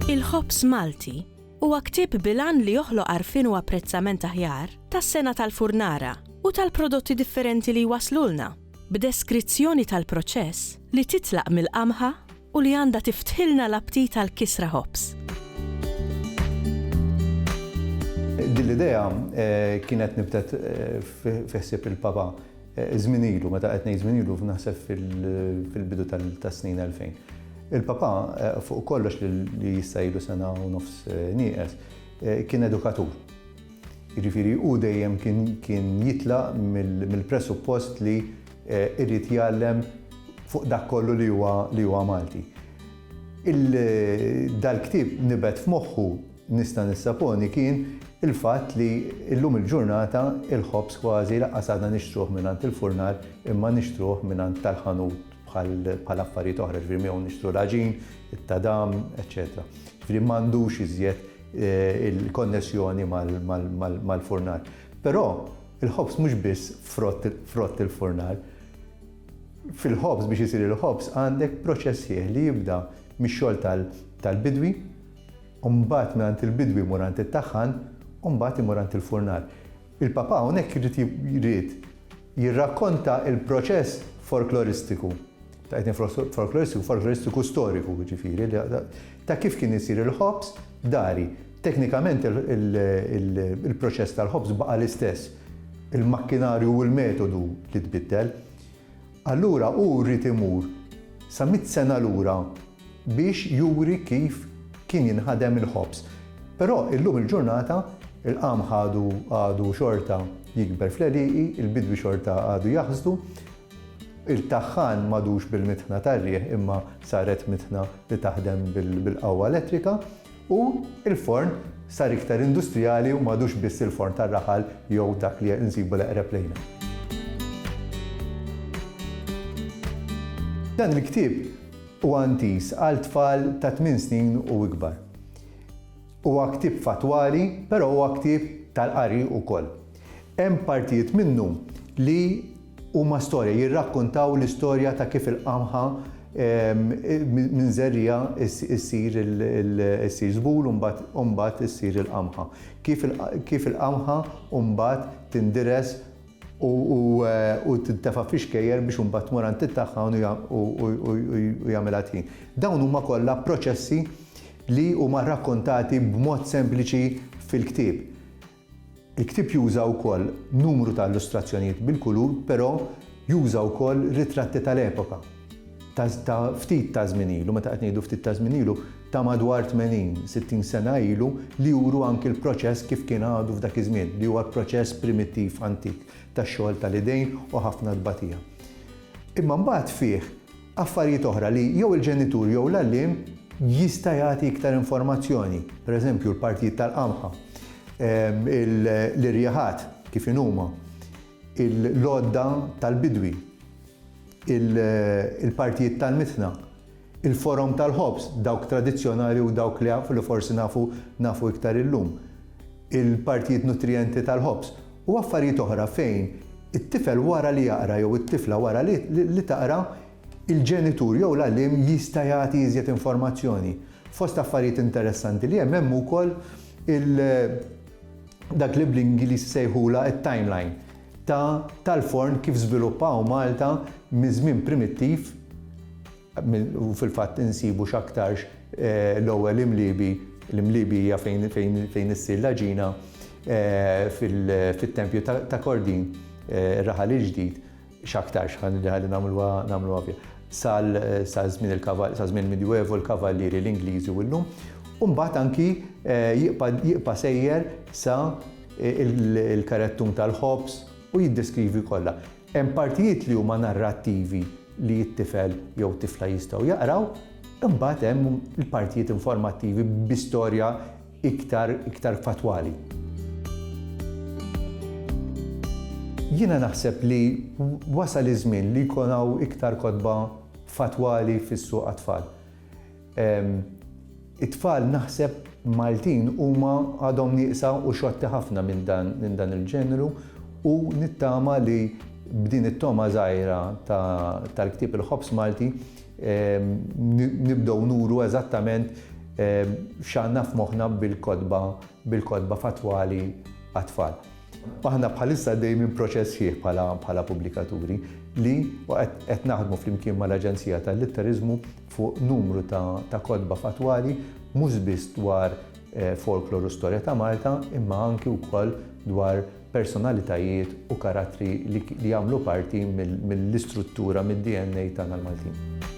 Il-Ħobż Malti huwa ktieb bil-għan li joħloq għarfien u apprezzament aħjar tas-sengħa tal-furnara u tal-prodotti differenti li jwasslulna, b'deskrizzjoni tal-proċess li titlaq mill-qamħa u li għandha tiftħilna l-aptit għal kisra ħobż. Din l-idea kienet nibtet fi ħsieb il-Papa żmien ilu, meta qed ngħid żmien ilu naħseb fil-bidu tas-snin 2000. Il-Papa fuq kollox li jista' ilu sena u nofs nieqes kien edukatur. Jiġifieri hu dejjem kien jitlaq mill-presuppost li Irid jgħallem fuq dak kollu li huwa li huwa Malti. Il dal-ktieb nibet f'moħħu, nista' nissaponi, kien il-fatt li llum il-ġurnata il-ħobż kważi laqqas għadna nixtruh mingħand il-furnar imma nixtruh mingħand tal-ħanut bħal bħal affarijiet oħra, ġifieri miegħu nixtru l-għaġin, it-tadam, eċċetera. Ġifieri m'għandux iżjed il-konnessjoni mal-furnar. Però, Il-ħobż mhux biss frott il-furnar. Fil-ħobż, biex isir il-ħobż, għandek proċess sħiħ li jibda mix-xogħol tal-bidwi, u mbagħad mingħand il-bidwi jmur għand it-taħħan, u mbagħad imur għand il-furnar. Il-Papa hawnhekk jrid jirrakkonta l-proċess folkloristiku, folkloristiku storiku jiġifieri, ta' kif kien isir il-ħobż dari. Teknikament il-proċess tal-ħobż baqa' l-istess, il-makkinarju u l-metodu li tbiddel. Allura hu ried imur sa mitt sena lura biex juri kif kien jinħadem il-ħobż. Però illum il-ġurnata il-qamħ għadu għadu xorta jikber fl-għelieqi, il-bidwi xorta għadu jaħsdu, il-taħħan m'għadux bil-mitħna tar-riħ imma saret mitħna li taħdem bil-qawwa elettrika. u l-forn sar iktar industrijali u m'għadux biss il-forn tar-raħal jew dak li nsibu l-eqreb lejna. Dan il-ktieb huwa intiż għal tfal ta' tmien snin u ikbar. Huwa ktieb fattwali, però huwa ktieb tal-qari wkoll. Hemm partijiet minnu li huma storja, jirrakkuntaw l-istorja ta' kif il-qamħa minn żerriegħa ssir issir żbul u mbagħad u mbagħad issir il-qamħa. Kif il kif il-qamħa u mbagħad tindireż u u u tintefa' fix-xkejjer biex u mbagħad tmur għand it-taħħan u u u u u u jagħmilha t-tħin. Dawn huma kollha proċessi li huma rrakkuntati b'mod sempliċi fil-ktieb. Il-ktieb juża wkoll numru ta' illustrazzjonijiet bil-kulur però juża wkoll ritratti tal-epoka, ta' ta' ftit ta' żmien ilu, meta qed ngħidu ftit ta' żmien ilu, ta' madwar 80, 60 sena ilu li juru anki l-proċess kif kien għadu f'dak iż-żmien, li huwa proċess primittiv antik tax-xogħol tal-idejn u ħafna tbatija. Imma mbagħad fih Affarijiet oħra li jew il-ġenitur jew l-għalliem jista' jagħti iktar informazzjoni, per eżempju l-partijiet tal-qamħa, l-irjaħat kif inhuma, l-għodda tal-bidwi, il-partijiet tal-mitħna, il-forom tal-ħobż, dawk tradizzjonali u dawk li forsi nafu iktar illum. il-partijiet nutrijenti tal-ħobż, u affarijiet oħra fejn it-tifel wara li jaqra jew it-tifla wara li taqra, il-ġenitur jew l-għalliem jista' jagħti iżjed informazzjoni. Fost affarijiet interessanti li hemm hemm ukoll dak li bl-Ingliż isejħulha t-timeline ta' tal-forn kif żviluppaw Malta miż-żmien primittiv, u fil-fatt insibu x'aktarx l-ewwel imliebi, l-imliebi hija fejn issir l-għaġina, fit-tempju ta' Kordin, ir-raħal il-ġdid, x'aktarx ħalli nagħmluha fih, sa żmien il-Midjuevu, l-Kavallieri, l-Ingliżi u llum, u mbagħad anki jibqa' sejjer sa l-karettun tal-ħobż, u jiddeskrivi jkollha. Hemm partijiet li huma narrattivi li t-tifel jew tifla jistgħu jaqraw, imbagħad hemm il-partijiet informattivi bi storja iktar iktar fattwali. Jiena naħseb li wasal iż-żmien li jkun hawn iktar kotba fattwali fis-suq għat-tfal. It-tfal naħseb Maltin huma għadhom nieqsa u xotti ħafna minn dan il-ġeneru u nittama li b'din it-togħma żgħira tal-ktieb Il-Ħobż Malti nibdew nuru eżattament x'għandna f'moħħna bil-kotba bil-kotba fattwali għat-tfal. Aħna bħalissa għaddejjin minn proċess sħiħ bħala pubblikaturi li qed naħdmu flimkien mal-Aġenzija tal-Litteriżmu fuq numru ta' kotba fattwali mhux biss dwar folklor u storja ta' Malta imma anki wkoll dwar personalitajiet u karattri li jagħmlu parti mill-istruttura, mid-DNA tagħna l-Maltin.